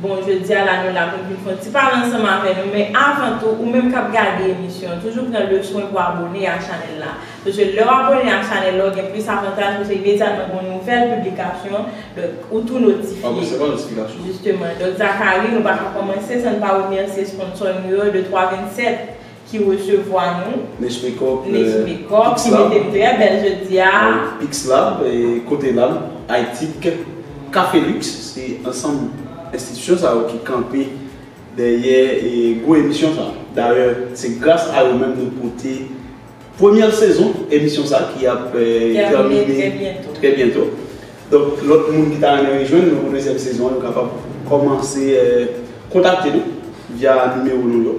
Bon jodia la nou la poun vin fon ti pale ansanm avè nou men avan tou ou menm kap gade emisyon an toujou pran le swen pou abone a chanèl la paske lèw abone a chanèl la ou gen plis avantaj paske imedyatman gon nouvèl piblikasyon donk ou tou notifye jisteman donk Zacharie nou paka kòmanse san n pa remèsye sponsò nou yo 2 3 27. ki resevwa nou. Niche Makeup. Niche Makeup ki mete m trè bèl jodi a. Pixlab, Kotelab, Aytik, Cafelux se ansanm enstitisyon sa yo ki kanpe dèyè gwo emisyon sa. Dayè se gras a yo menm nou pote premyè sezon emisyon sa ki ap tèmine trè byento. Donk lòt moun ki ta renmen rejwenn nou pou dezyèm sezon an yo kapab kòmanse kontakte nou via nimewo nou yo.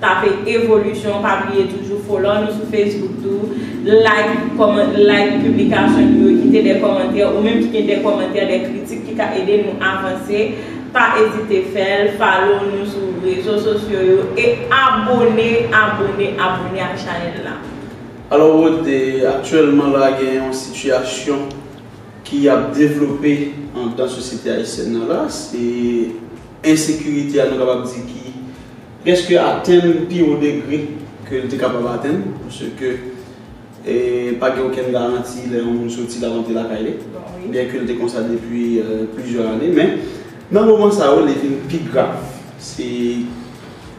Tape evolution pa bliye toujou follow nou sou Facebook tou like comment like piblikasyon nou yo kite de komantè ou menm ki gen de komantè de kritik ki ka ede nou avanse pa ezite fèl follow nou sou rezo sosyo yo e abone abone abone ak chanèl la. Alò Rode, aktyèlman la gen yon sitiyasyon ki ap devlope andan sosyete ayisyèn nan la, se ensekirite a nou kapab di ki. Preske atenn pi wo degre ke l te kapab atenn, paske pa gen okenn garanti lè yon moun soti lap antre lakay li, byen ke l te konsa depi plizyè ane, men nan moman sa yo li vin pi grav, se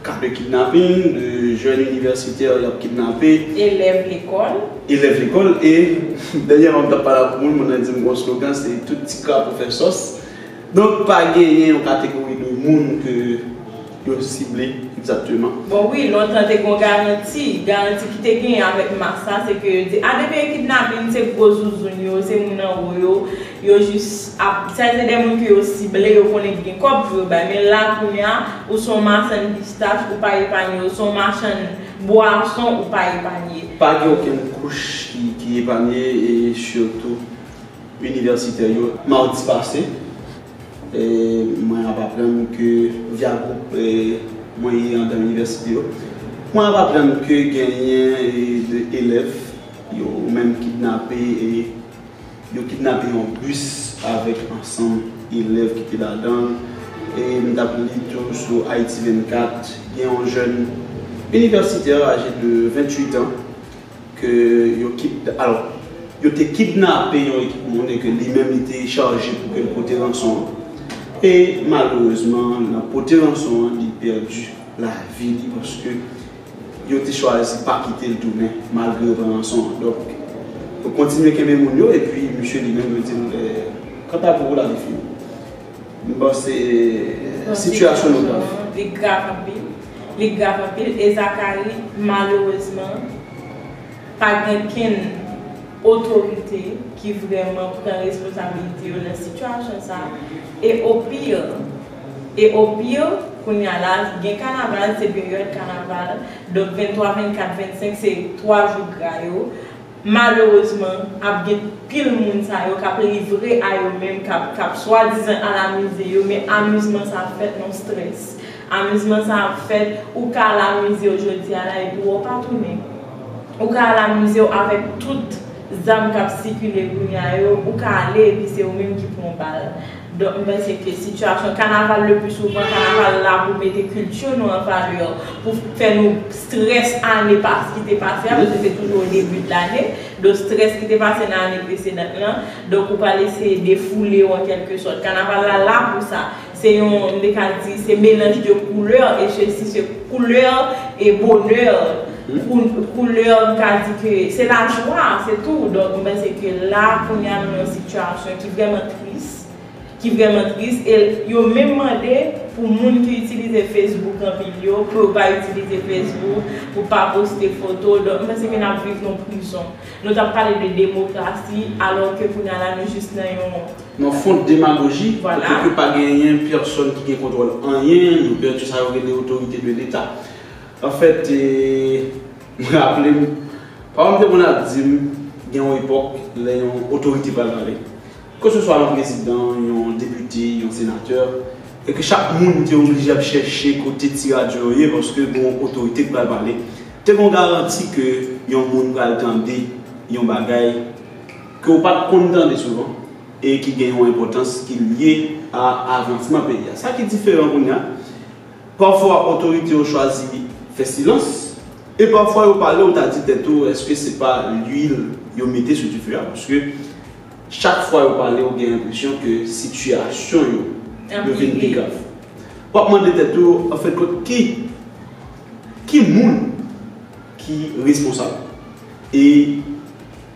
ka de kidnaping, de jèn inivèsitè yap kidnape, elèv lekòl, elèv lekòl, e dènyèman m tap pale ak yon moun, moun nan di m gen yon slogan se tout ti krapo fè sòs, donk pa genyen yon kategori de moun ke. yo sible egzakteman? Bon wi, lontan te gon garanti, garanti ki te genyen avèk mas la se ke yo di a depi e kidnaping se gwo zouzoun yo, se moun anwo yo, yo jis ap, sa se de moun ke yo sible, yo konnen ki gen kòb pou yo bay, men la kounya ou son machann pistach ou pa epanye, ou son machann bwason ou pa epanye. Pa gen okenn kouch ki epanye e sitou inivèsitè yo. Madi pase, Mwen ap aprann ke via gwoup mwen ye andan inivèsite yo. Mwen ap aprann ke genyen de elèv yo menm kidnape e yo kidnape yon bis avèk ansanm elèv ki te ladan l. E m t ap li tou sou Ayiti 24, gen yon jèn inivèsitè aje de 28 an, ke yo kid alò yo te kidnape yon ekip moun e ke li menm li te chaje pou ke l pote ranson an e malerezman nan pote ranson an li pèdi lavi li paske yo te chwazi pa kite l tounen malgre yo pran ranson an donk yo kontinye kenbe moun yo epi misye li menm yo di l kanta pou ou lavi fini. M panse sitiyasyon nou nan. Li grav anpil. Li grav anpil. E Zakari, malerezman, pa gen kenn otorite ki vrèman pran responsabilite yo nan sitiyasyon sa a. E o pire, e o pire, kounye a la, gen kanaval, se peryòd kanaval, donk 23, 24, 25 se 3 jou gra yo. Malerezman, ap gen pil moun sa yo k ap livre a yo menm, k ap k ap swadizan al amize yo, men amizman sa ap fèt nan strès. Amizman sa ap fèt, ou ka al amize w jodi a la epi wè w pa tounen. Ou ka al amize w avèk tout zam k ap sikile kounye a yo, ou ka ale epi se ou menm ki pran bal. Donk m panse ke sitiyasyon kanaval le pli souvan kanaval la pou mete kilti nou an valè, pou fè nou strès ane pas ki te pase a, paske se toujou o debi de lane, donk strès ki te pase nan ane presedant lan, donk ou pral eseye defoule w an kèlke sòt. Kanaval la la pou sa. Se yon, m te ka di, se melanj de koulè e sesi se koulè e bonè, koulè m ka di ke se lajwa, se tou. Donk m panse ke la kounya nou nan yon sitiyasyon ki vrèman. tris, ki vrèman tris e yo menm mande pou moun ki itilize Facebook anpil yo pou yo pa itilize Facebook, pou pa poste foto, donk m panse ke n ap viv nan prizon. Nou t ap pale de demokrasi alò ke kounya la nou jis nan yon. Nan fond demagoji, kote ke pa genyen pèsòn ki gen kontwòl anyen, yo pèdi sa yo rele otorite de leta. Anfèt, m raple m, paran m te konn ap di m gen yon epòk lè yon otorite pral pale. Keseswa yon prezidan, yon depite, yon senatè, e ke chak moun te oblije ap chèche kote ti radyo yo ye paske gen yon otorite ki pral pale, te gen yon garanti ke yon moun pral tande yon bagay ke ou pa t konn tande souvan e ki gen yon enpòtans ki lye a avansman peyi a. Sa ki diferan kounye a. Pafwa otorite yo chwazi fè silans, e pafwa yo pale ou ta di tèt ou eske se pa lwil yo mete sou dife a paske chak fwa yo pale ou gen enpresyon ke sitiyasyon yo yo vin pi grav. W ap mande tèt ou anfenkont ki ki moun ki responsab e.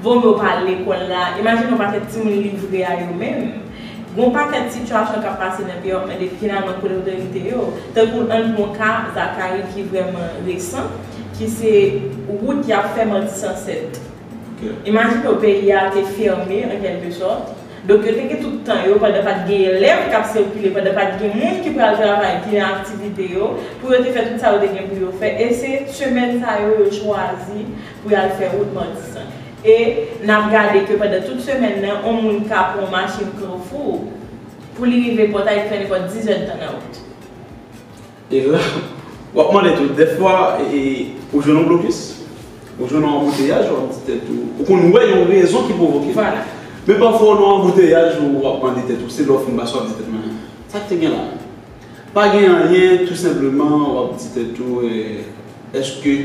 Bon yo pa al lekòl la. Imajine yon pakèt timoun livre a yo menm. Gon pakèt sitiyasyon k ap pase nan peyi a w ap mande finalman kote otorite yo. Tankou ann pwan ka Zakari ki vrèman resan ki se wout y ap fè mandi san sèt. Imajine w peyi a te fèmen an kèlke sòt. Donk yo te gen tout tan yo pandan pa t gen elèv k ap sikile, pandan pa t gen moun ki pral travay ki nan aktivite yo pou yo te fè tout sa yo te gen pou yo fè e se semèn sa yo yo chwazi pou y al fè wout Matisan. E, n ap gade ke pandan tout semèn nan, yon moun ka pran yon machin Kanfou pou li rive Pòtay ki fè nenpòt dizèdtan nan wout. E la, w ap mande tou, dèfwa, ou jwenn yon blokis, ou jwenn yon anbouteyaj, w ap di tèt ou, ou konn wè yon rezon ki pwovoke l. Vwala. Men pafwa w nan yon anbouteyaj, w ap mande tèt ou, se lè w fin pase w ap di tèt ou, men, sa k te gen la? Pa gen anyen tou senpleman wap di tèt ou eske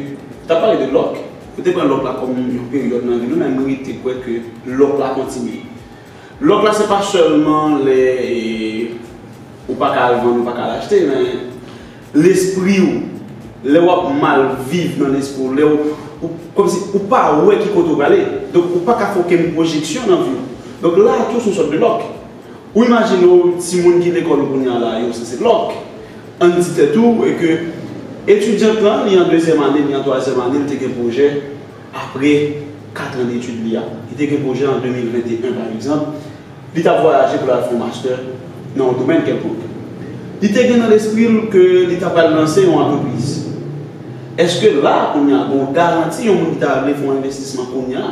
Tap pale de lòk Nou te pran lòk la kòm yon peryòd nan vi nou men mwen rete kwè ke lòk la kontinye Lòk la se pa sèlman lè Ou pa ka al vann ou pa ka al achte men Lespri ou Lè wap mal viv nan lespri ou Lè ou Kòm si ou pa wè ki kote ou prale Donk ou pa ka fè okenn pwojeksyon nan vi ou Donk la tou se yon sòt de lòk Ou imajine w timoun ki lekòl kounye a la yo se se lòk. An n di tèt ou e ke etidyant lan li an dezyèm ane, li an twazyèm ane, li te gen pwojè apre katran detid li a. Li te gen pwojè an 2021 pa egzanp, li t ap vwayaje pou l al fè yon mastè nan yon domèn kèlkonk. Li te gen nan lespri l ke li ta pral lanse yon antrepriz. Eske la kounye a gen yon garanti yon moun ki ta vle fè yon envestisman kounye a,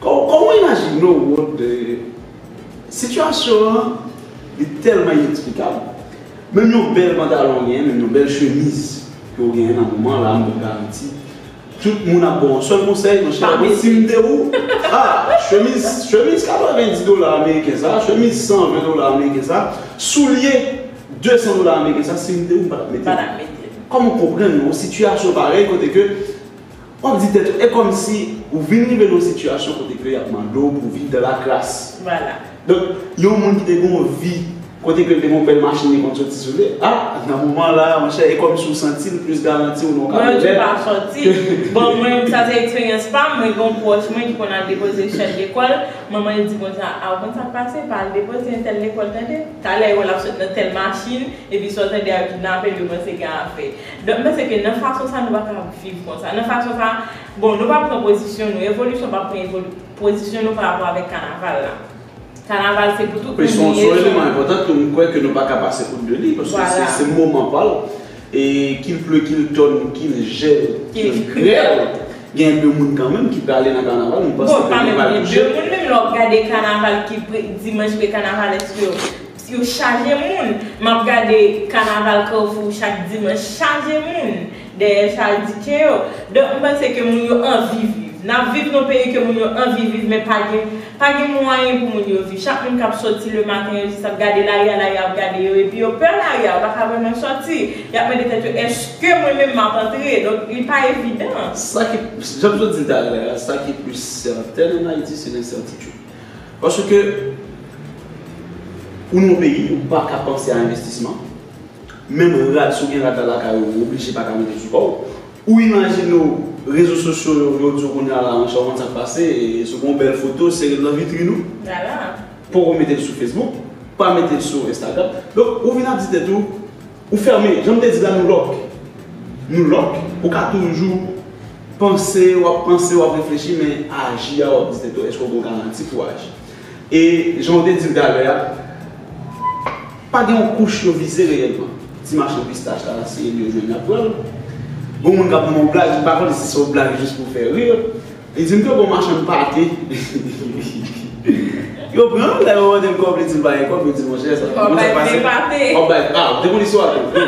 Kòman w imajine w wont de sitiyasyon an? Li tèlman ineksplikab. Menm yon bèl pantalon w genyen, menm yon bèl chemiz ke w genyen nan moman an la, m gen garanti tout moun ap ba w yon sèl konsèy, monchè, mwen si m te ou, a, chemiz, chemiz 90 dola ameriken sa a, chemiz 120 dola ameriken sa a, soulye 200 dola ameriken sa a, si m te ou, m pa t mete l. Kòman w konprann yon sitiyasyon parèy kote ke. W ap di tèt ou, e kòmsi ou vin rive nan yon sitiyasyon kote ke y ap mande w pou w viv dan la kras. Vwala. Donk, yon moun ki te gen yon vi kote ke l te gen yon bèl machin li konn soti sou li, a, nan moman la, monchè, e kòmsi w santi l plis garanti w nan yon kamyonèt. Mwen toujou pa santi. Bon, mwen menm, sa se eksperyans pa m, mwen gen yon pwòch mwen ki konn al depoze chèl lekòl, manman l di kon sa, a, ou konn sa k pase, pa al depoze entèl lekòl tande. Talè, yo wè l ap sot nan tèl machin, epi sa w tande a, yo kidnape l, yo panse gen afè. Donk m panse ke nan fason sa nou pa ka ap viv konsa. Nan fason sa, bon nou pa pran pozisyon nou, revolisyon pa pran evolu, pozisyon nou pa rapò avèk kanaval la. Kanaval se pou tout moun Son son eleman enpòtan tou m kwè ke nou pa ka pase outde li paske se se moman pa l e ki l ple ki l tòn ki l jèl ki l grèl gen de moun kanmenm ki prale nan kanaval m panse ke nou pral touche. Bon pa menm gen de moun menm lè w ap gade kanaval ki pre dimanch pre kanavalèsk yo. Yo chaje moun map gade kanaval carrefour chak dimanche chaje moun dèyè chal DJ yo donk m panse ke moun yo anvi viv nap viv nan peyi ke moun yo anvi viv men pa gen pa gen mwayen pou moun yo viv chak moun kap soti le maten yo jis ap gade lari a lari a ap gade yo epi yo pè lari a yo paka vreman soti yap mande tèt yo eske mwen menm map antre donk li pa evidan. Sa ki, janm sot di talè a, sa ki plis sètèn an Ayiti se lensètitid. Paske ou nan peyi ou pa ka panse a envestisman, menm rad si w gen rad la lakay ou, ou oblije pa ka mete sou kò w. Ou imajine w rezo sosyo yo vle w di w kounya la monchè ou konn sa k pase si w gen yon bèl foto sere l nan vitrin ou, poko mete l sou fesbouk, pa mete l sou enstagram. Donk ou vin ap di tèt ou Ou fèmen, jan m te di la nou lòk. Nou lòk, ou ka toujou panse, w ap panse, w ap reflechi men aji a w ap di tèt ou èske w gen garanti pou w aji. E jan w te di l talè a, pa gen yon kouch yo vize reyèlman. Ti machann pistach la nan siye li yo jwenn y ap pran l. Gon moun k ap pran yon blag, m pa konnen si se yon blag jis pou fè rir. Li di m ke bon machann pate. Yo pran l, lè yo mande l kòb, li di l pa gen kòb, yo di monchè sa. Wap bay vle pate. Wap bay, a, ou te konn istwa a tou.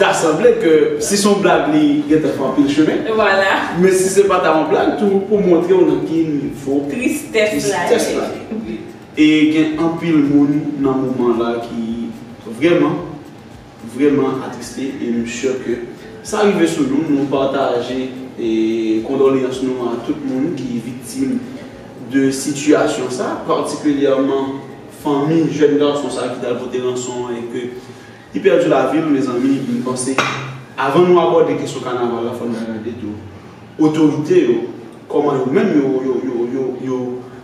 Ta sanble ke si son blag li gentan fè anpil chemen. Vwala. Men si se pa ta yon blag tou pou montre w nan ki nivo. Tristès la ye. Tristès la ye. E gen anpil moun nan moman la ki vreman. Vreman atriste e m sure ke sa rive sou nou, nou pataje kondoleyans nou a tout moun ki viktim de sitiyasyon sa, patikilyèman fanmi jèn gason sa ki tal pote ranson an e ke li pèdi lavi l, mezanmi m panse avan nou abòde kesyon kanaval la fò n gade tou otorite yo kòman yo menm yo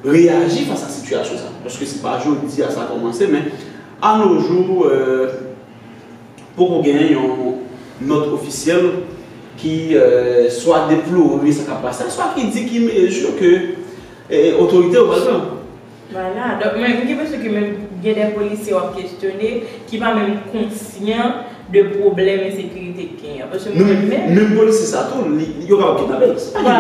reyaji fas a sitiyasyon sa paske se pa jodi a sa kòmanse men A nos jours, poko gen yon nòt ofisyèl ki swa deplore sa k ap pase a, swa ki di ki mezi ke otorite yo pral pran. Vwala, donk mwen gen enpresyon ke menm gen dè polisye w ap kesyone ki pa menm konsyan. de pwoblèm ensekirite k genyen an paske mwen menm. Menm polisye sa tou yo kapab kidnape l se pa li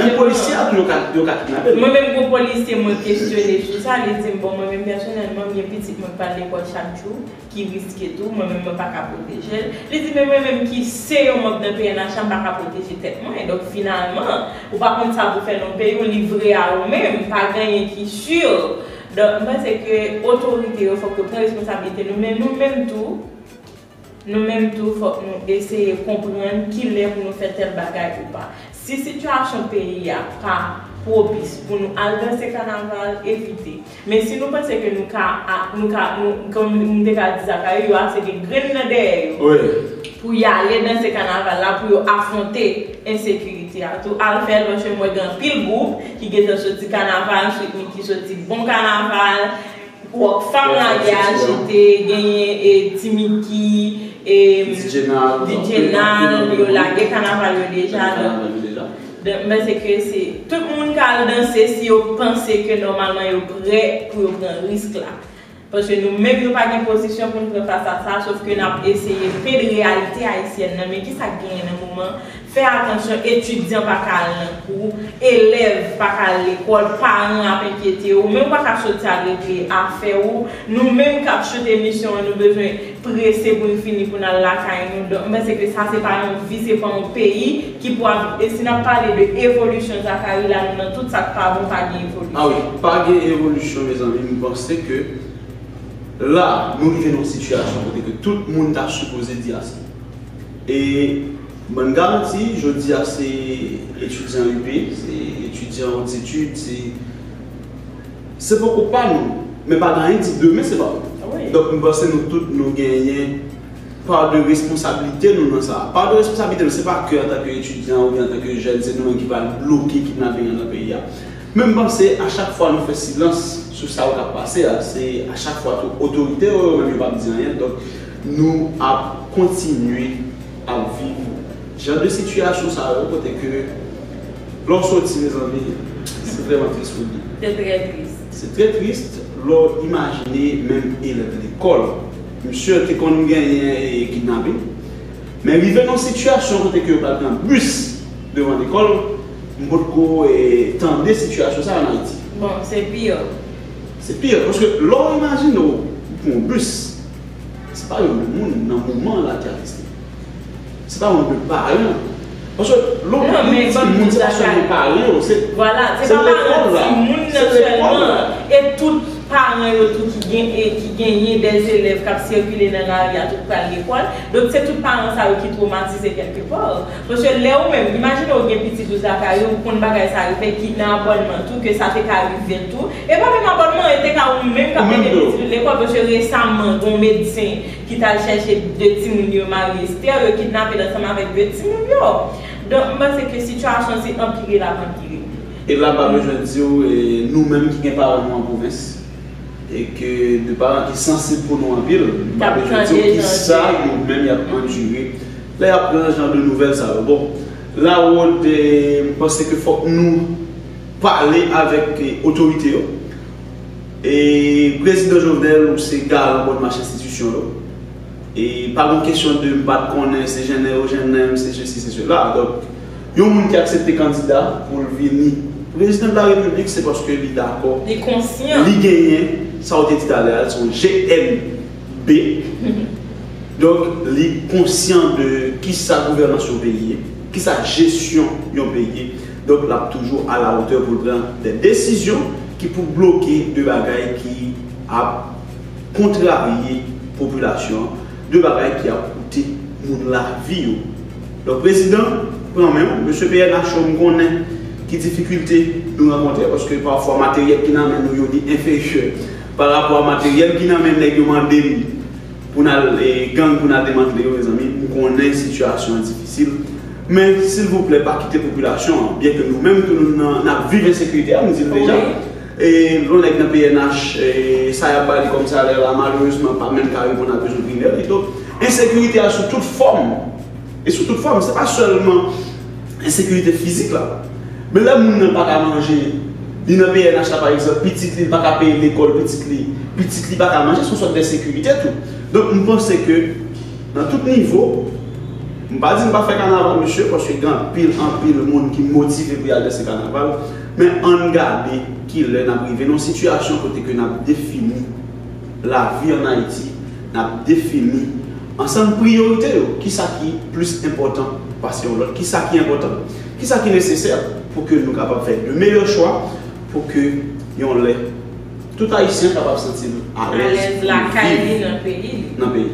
ki polisye a menm polisye a tou yo ka kidnape l. Mwen menm gon polisye mwen kesyone sou sa li di m bon mwen menm pèsonèlman m gen pitit mwen k pral lekòl chak jou ki riske tou mwen menm mwen pa ka pwoteje l li di men mwen menm ki se yon manb nan pnh la m pa ka pwoteje tèt mwen donk finalman ou pa konn sa pou fè nan peyi w livre a ou menm pa genyen ki sur donk m panse ke otorite yo fòk yo pran responsablite nou men nou menm tou Nou menm tou fòk nou eseye konprann kilè pou nou fè tèl bagay ou pa. Si sitiyasyon peyi a pa pwopis pou nou al danse kanaval, evite. Men si nou panse ke nou ka, nou ka, nou, kòm m te ka di Zacharie, yo ase gen grenn nan dèyè yo pou y ale danse kanaval la pou yo afwonte ensekirite a tou, al fè l paske m wè gen anpil gwoup ki gentan soti kanaval, Sweet Micky soti bon kanaval. Rock fam la gen ajite genyen e ti miki e djenal yo lage kanaval yo deja donk mwen panse ke se tout moun ka al danse si yo panse ke nòmalman yo prè pou yo pran risk la paske nou menm nou pa gen pozisyon pou nou fè fas a sa sof ke nap eseye fed reyalite ayisyèn nan men kisa k genyen nan moman Fè atansyon etidyan pa ka al nan kou, elèv pa ka al lekòl, paran ap enkyete ou, men ou pa ka soti al regle afè ou, nou menm k ap shoot emisyon an nou bezwen prese pou n fini pou n al lakay nou, donk m panse ke sa se pa yon vi, se pa yon peyi ki pou ap viv e si n ap pale de evolisyon Zakari la nou nan tout sa k pa bon pa gen evolisyon. Awi, pa gen evolisyon mezanmi m panse ke la nou rive nan yon sitiyasyon kote ke tout moun ta sipoze di ase. E bann garanti jodi a se etidyan UP, se etidyan haute etude, se se poko pa nou, men pa gen anyen di demen se pa nou. Donk m panse nou tout nou genyen part de responsabilité nou nan sa. Part de responsabilité nou se pa ke antanke etidyan oubyen antanke jèn se nou menm ki pral bloke kidnaping lan nan peyi a. Men m panse a chak fwa nou fè silans sou sa yo k ap pase a se a chak fwa tou otorite yo yo menm yo p ap di anyen donk Nou ap kontinye ap viv jan de sitiyasyon sa yo kote ke lè w soti mezanmi se vrèman tris pou di. Se trè tris. Se trè tris lè w imajine menm elèv lekòl. Misye te konn genyen kidnaping men rive nan sitiyasyon kote ke yo pral pran bis devan lekòl m potko tande sitiyasyon sa an Ayiti. Bon se pire. Se pire paske lè w imajine w pran yon bis. Se pa yon moun nan moman an la ki atiste. Se pa yon de paran. Paske lò moun nan di moun se pa sèlman paran yo. Se lekòl la. Se pa paran di moun nan sèlman. E tout paran yo tou ki genyen de elèv k ap sikile nan lari a tou k pral lekòl. Donk se tout paran sa yo ki twomatize kèlkepò. Paske lè ou menm, imajine ou gen pitit ou lakay ou, ou konn bagay sa rive, ki nan abònman tou, ke sa te ka rive l tou, e pa menm abònman, e te ka ou menm kap mete pitit ou lekòl, paske resaman gon medsen ki tal chèche 2 timoun yo mari Esther, yo kidnape l ansanm avèk 2 timoun yo. Donk m panse ke sitiyasyon an se anpire lap anpire. E la m pa bezwen di w, nou menm ki gen paran nou an pwovens, e ke de paran ki sansib pou nou anpil, m pa bezwen di w kisa yo menm yap andire. Lè yap pran jan de nouvèl sa yo bon Laurent m panse ke fòk nou pale avèk otorite yo e prezidan Jovenel ou se garan bon mach enstitisyon yo e pa gon kesyon de m pat konnen se jennen yo jennen m se sesi se sela donk yon moun ki aksepte kandida pou l vini prezidan de la repiblik se paske li dakò li genyen sa ou te di talè a l son GN. B. Donk li konsyan de kisa gouvènans yon peyi ye, kisa jesyon yon peyi ye. Donk l ap toujou alawotè pou l pran dè desizyon ki pou bloke de bagay ki ap kontrarye popilasyon an, de bagay ki ap koute moun lavi yo. Donk prezidan, pran men w. Mesye pnh yo m konnen ki difikilte nou rankontre paske pafwa materyèl ki nan men nou yo li enferyè. Pa rapò a materyèl ki nan men nèg yo mande m pou n al gang pou n al demantle yo mezanmi m konnen sitiyasyon an difisil men silvouplè pa kite popilasyon an byen ke nou menm tou nou nan n ap viv ensekirite a m di l deja e yon nèg nan pnh sa y ap ba li kòm salè la malerezman pa menm ka reponn a bezwen primè li donk ensekirite a sou tout fòm. e sou tout fòm, se pa sèlman ensekirite fizik la. Men lè moun nan pa ka manje, li nan pnh la pa egzanp, pitit li pa ka peye lekòl pitit li, pitit li pa ka manje, se yon sòt d'ensekirite tou. Donk m panse ke nan tout nivo, m pa di m pa fè kanaval mesye, paske gen anpil, anpil moun ki motive pou y al danse kanaval, men ann gade ki lè n ap rive nan yon sitiyasyon kote ke n ap defini. lavi an Ayiti, n ap defini ansanm priyorite yo, ki sa ki plis enpòtan pase yon lòt, ki sa ki enpòtan, ki sa ki nesesè pou ke nou kapab fè de meyè chwa pou ke yon lè tout Ayisyen kapab santi l alèz pou l viv nan peyi li.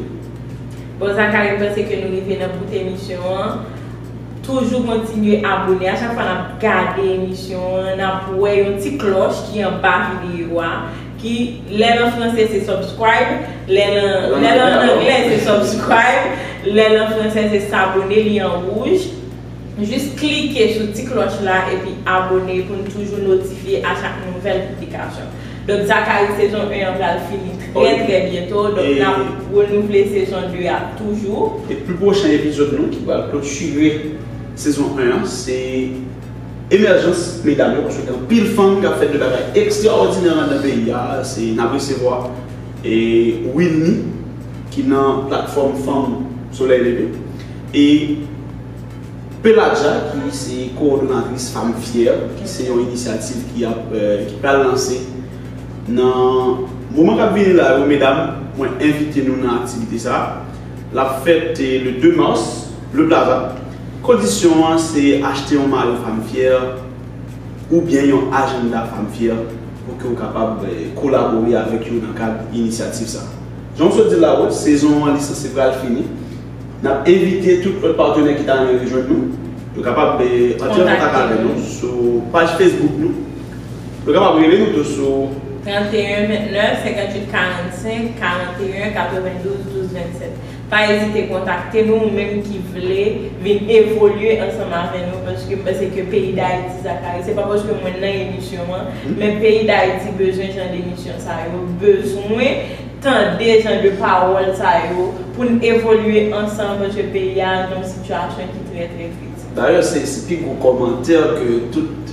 Bon Zaka yo panse ke nou rive nan bout emisyon an, toujou kontinye abone a chak fwa n ap gade emisyon an n ap wè yon ti klòch ki anba videyo a. Ki lèl an franse se subscribe lèl an anglè se subscribe lèl an franse se s'abonner li an rouj jis klike sou ti klòch la epi abone poun toujou notifye a chak nouvèl piblikasyon donk Zacharie sezon 1 an pral fini trè trè byento donk nap renouvle sezon 2 a toujou e pi pwochen epizòd nou ki pral klotire sezon 1 an se. Emèjans medam yo paske gen anpil fanm kap fè de bagay ekstraòdinè anndan peyi a se nap resevwa Wilny ki nan platfòm fanm solèy leve e Peladja ki se kowòdonatris Fam Fyè ki se yon inisyativ ki ap ki pral lanse nan moman kap vini la yo medam mwen envite nou nan aktivite sa lap fèt le 2 mars le plaza. Kondisyon an se achte yon mayo Femme Fière oubyen yon ajanda Femme Fière pou ke ou kapab kolabore avèk yo nan kad inisyativ sa. Jan m sot di l la wòt, sezon an li sanse pral fini. N ap envite tout lòt patenè ki ta renmen rejwenn nou, yo kapab antre an kontak avè nou sou paj Facebook nou. Yo kapab rele nou tou sou. 31 29 58 45 41 92 12 27. Pa ezite kontakte nou ou menm ki vle vin evolye ansanm avè nou paske m panse ke peyi Dayiti Zachary se pa paske mwen nan emisyon an men peyi Dayiti bezwen jan de emisyon sa yo bezwen tande jan de pawòl sa yo pou n evolye ansanm paske peyi a nan yon sitiyasyon ki trè trè kritik. Dayè se pi gwo kòmantè ke tout.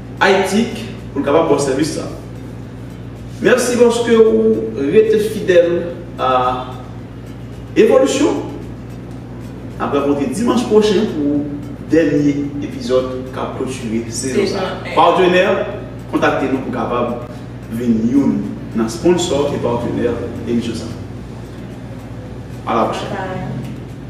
Aytik pou l kapab ba w sèvis sa. Mèsi paske ou rete fidèl a Evolisyon. N ap rankontre dimanch pwochen pou dènye epizòd k ap klotire sezon sa. Patenè, kontakte nou pou kapab vin youn nan sponsò e patenè emisyon sa. A la pwochèn!